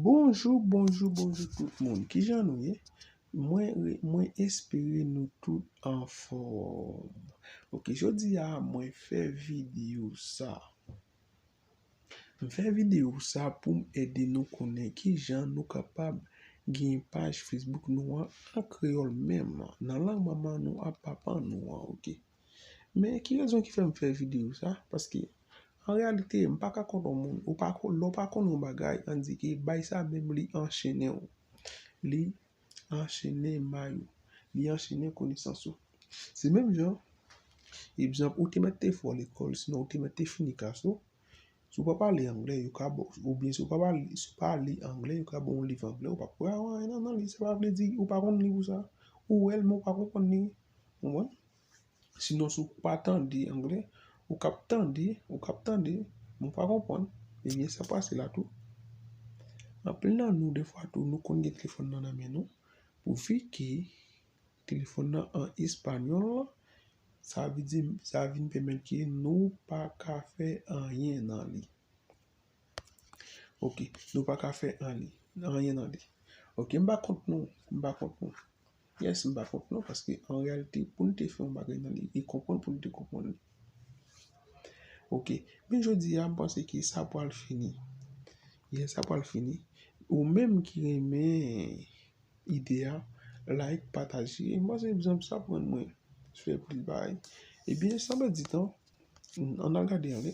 Bonjou bonjou bonjou tout moun kijan nou ye mwen mwen espere nou tout anfòm ok jodi a mwen fè video sa m fè video sa poum ede nou konnen kijan nou kapab gen paj facebook nou an an kreyòl menm nan lang manman nou ak papa nou an ok Men ki rezon ki fèm fè video sa, paske an reyalite m pa ka konn yon moun, ou pa konn, lè w pa konn yon bagay an di ke bay sa menm li anchene w, li anchene may ou, li anchene konesans ou. Se menm jan, egzanp ou te mèt te fò lekòl sinon ou te mèt te fini klas ou, si w pa pale angle yo ka ba w, oubyen si w pa pale, si w pa li angle yo ka ba w yon liv angle ou pa p wè anyen nan li, sa pa vle di ou pa konn liv ou sa, ou wè l men ou pa konprann li, Konprann? Sinon si w pa tande angle, ou kab tande, ou kab tande, men w pa konprann, ebyen sa pase la tou. Anpil nan nou defwa tou nou konn gen telefòn nan nan men nou, pou fi ke telefòn nan an espanyòl, sa vle di sa vin pèmèt ke nou pa ka fè anyen nan li. Ok, nou pa ka fè anyen nan li. Ok, m pa kont nou, m pa kont nou. Yes m pa kont non paske an reyalite pou n te fè yon bagay nan li e konprann pou n te konprann li ok men jodi a m panse ke sa pwal fini yes sa pwal fini ou menm ki renmen ide a like pataje m panse egzanp sa ap rann mwen fè plis bagay ebyen san pèdi tan an n al gade anlè.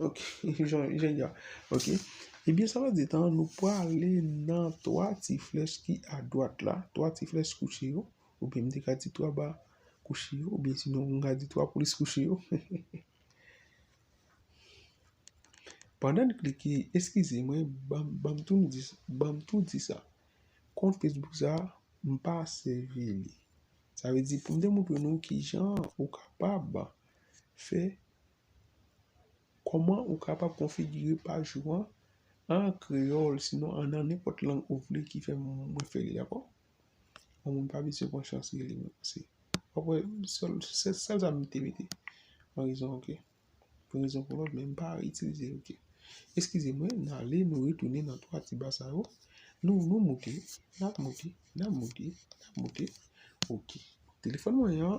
Ok, jen jan. Ok. Ebyen sa vle di etan nou prale nan 3 ti flèch ki a dwat la, 3 ti flèch kouche yo, oubyen m te ka di 3 ba kouche yo, oubyen sinon m ka di 3 polis kouche yo. Pandan n klike, eskize mwen, ban m tou di, ban m tou di sa. Kont Facebook sa, m pa sèvi li. Sa vle di pou m demontre nou ki jan ou kapab fè Kòman ou kapab konfigire paj ou an an kreyòl sinon an nan nenpòt lang ou vle ki fè mwen fè li dakò yon moun pa bezwen pran chans li li menmsi wap wè sèl sèl sa m te mete yon rezon ok pou yon rezon pou lòt men m pa itilize l ok eskize mwen n ale nou retounen nan 3 ti ba sa yo nou nou moute n ap moute n ap moute n ap moute ok telefòn mwen an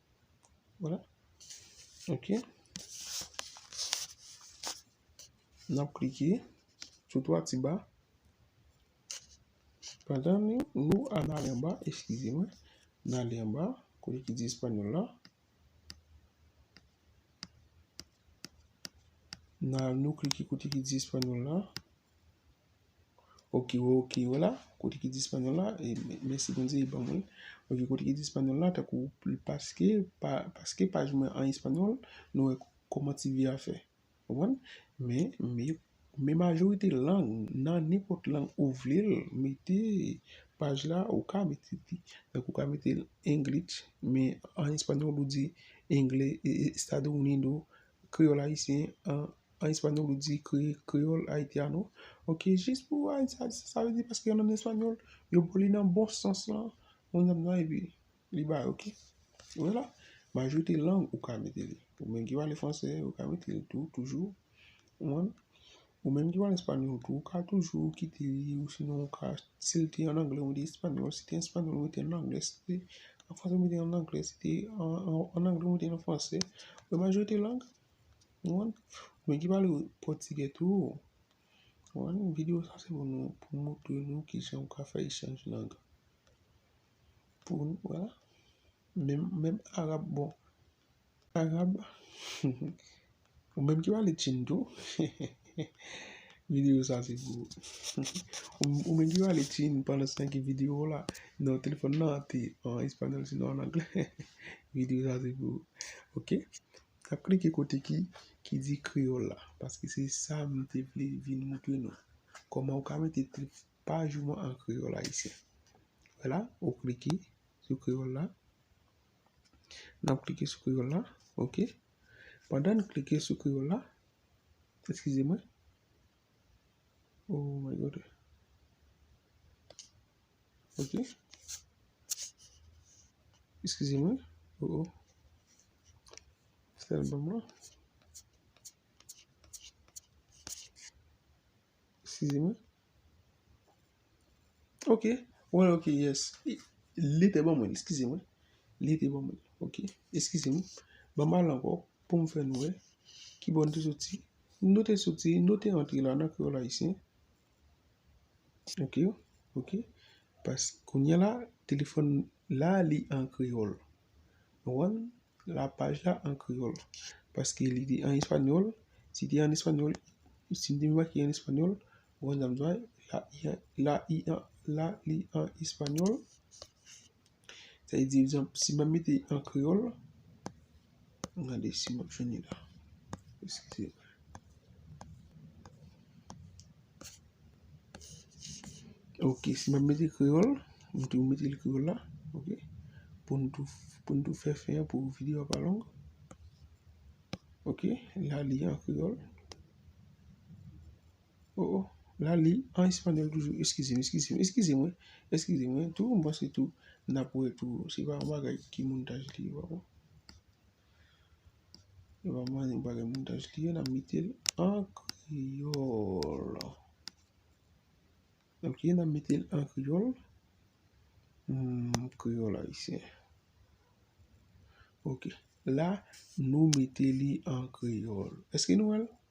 Wala. Ok. Nap klike. Sou 3 ti ba. Pandan ni nou a nan alen ba. Eskize mwen. Nan alen ba. Kote ki di espanol la. Nan nou klike kote ki di espanol la. Ok yo ok yo la kote ki di espanol la e mèsi bondye li ban mwen ok kote ki di espanol la tankou paske pa paske paj mwen an espanol nou wè kòman ti vi a fè konprann men men men majorite lang nan nenpòt lang ou vle l mete paj la ou ka mete li tankou ou ka mete english men an espanol ou di engle estado unido kreyòl ayisyen an En español ou di creole haitiano. Ok jis pou haitiano sa vle di paske an español yo pou li nan bon sans lan moun nan nan epi li ba ok. Wela majorite lang ou ka mete li. Ou menm ki pale fransè ou ka mete li tou toujou. Ou menm ki pale español tou ou ka toujou kite li ou sinon ou ka si l te an anglè ou mete español si te an español ou mete l nan anglè si te an fransè ou mete l nan anglè si te an anglè ou mete l nan fransè. Majorite lang Mwen ki pale pòtigè tou. Mwen mwen videyo sa se pou nou pou mwen tou nou ki jan ou ka fè echanj lang. Pou mwen wè la. Mwen mwen arab bon. Arab. Mwen mwen ki pale chin tou. Videyo sa se pou. Mwen mwen ki pale chin pou mwen san ki videyo la. Nan telefon nan te. An espanol se nan angle. Videyo sa se pou. Ok. Tap klike kote ki ki di kreyòl la paske se sa m te vle vin moutre nou kòman ou ka mete trip paj ou an kreyòl ayisyen wè la ou klike sou kreyòl la n ap klike sou kreyòl la ok pandan n klike sou kreyòl la eskize mwen oh my god. Ok. Eskize mwen. O o. Sèl banm lan. Eskize mwen. Ok. Wè ok yes. Li te banm wè. Eskize mwen. Li te banm wè. Ok. Eskize mwen. Banm al anko. Poum fè nou wè. Kibò nou te soti. Nou te soti. Nou te antre la nan kreyòl ayisyen. Ok ok pas kounya la telefòn la li an kreyòl ou konprann la paj la an kreyòl paske li te an espanyòl si te an espanyòl si m te vin make li an espanyòl ou konprann sa m di w la li an la li an espanyòl. Sa vle di egzanp, si m ap mete l an kreyòl, an gade si m ap jwenn li la. Eskize m. Ok, si m ap mete l kreyòl, m tou mete l kreyòl la, ok, pou n tou, pou n tou fè fen an pou videyo a pa long. Ok, la li an kreyòl. Oh oh la li an espanol toujou eskize m eskize m eskize mwen eskize mwen tou m panse tou nap wè tou se pa yon bagay ki montaj li ye pa bon se pa yon bagay montaj li ye nap mete l an kreyòl ok nap mete l an kreyòl kreyòl ayisyen ok la nou mete li an kreyòl èske nou wè l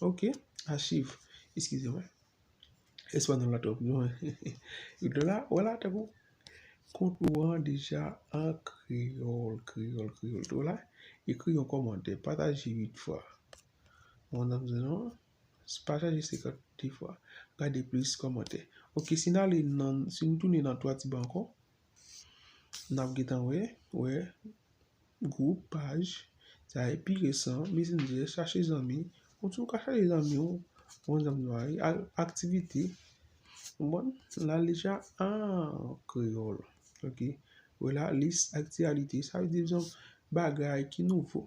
Ok, achiv. Eskize mwen. Espanol la twòp nou. Yo te la, wè la tankou. Kont ou an deja an kreyòl, kreyòl, kreyòl. Te wè la, ekri yon kòmantè. Pataje 8 fwa. Mwen nan mizè non. Pataje 52 fwa. Gade plis kòmantè. Ok, si n ale nan, si nou tounen nan 3 ti ba ankò. Nap gentan wè, wè, group, paj, sa e pi resan, messenger, chache zanmi, ou tou ka chache zanmi ou, bon zanmi nou a ye, al aktivite, bon, la deja an kreyòl, ok, wè la lis aktyalite, sa vle di zanm bagay ki nouvo.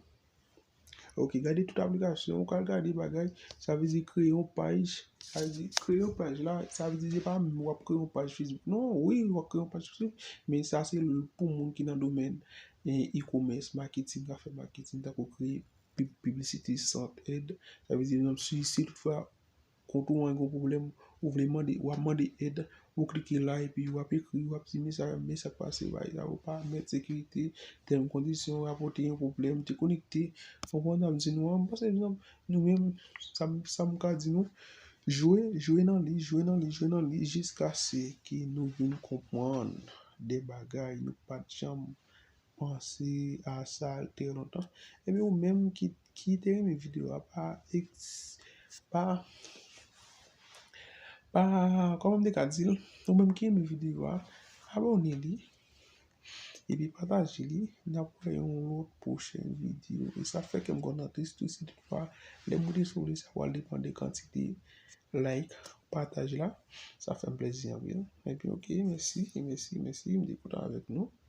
Ok gade tout aplikasyon ou ka gade bagay sa vle di kreye yon paj sa vle di kreye yon paj la sa vle di se pa menm wap kreye yon paj Facebook non wi wap kreye yon paj Facebook men sa se pou moun ki nan domèn e-commerce marketing kap fè marketing tankou kreye piblisite sant èd sa vle di si tout fwa. Kont ou an gen yon pwoblèm, ou vle mande, wap mande èd, ou klike la epi wap ekri, wap di mesa dam men sak pase bay la ou pa mèt sekirite, tèm kondisyon, rapòte yon pwoblèm, dekonekte, fon konn sa m di nou an, m panse nou menm sa m ka di nou, jwe, jwe nan li, jwe nan li, jwe nan li jiskase ke nou vin konpwann de bagay nou pat janm panse a sa trè lontan ebyen ou menm ki te renmen video a pa pa pa kòman m te ka di l ou menm ki renmen video a abòne li epi pataje li n ap fè yon lòt pwochèn video e sa fè kè m kontan plis tou si tout fwa lè m rete sou li sa pral depann de kantite like pataj la sa fè m plezi anpil ebyen ok mèsi mèsi mèsi m te kontan avèk nou.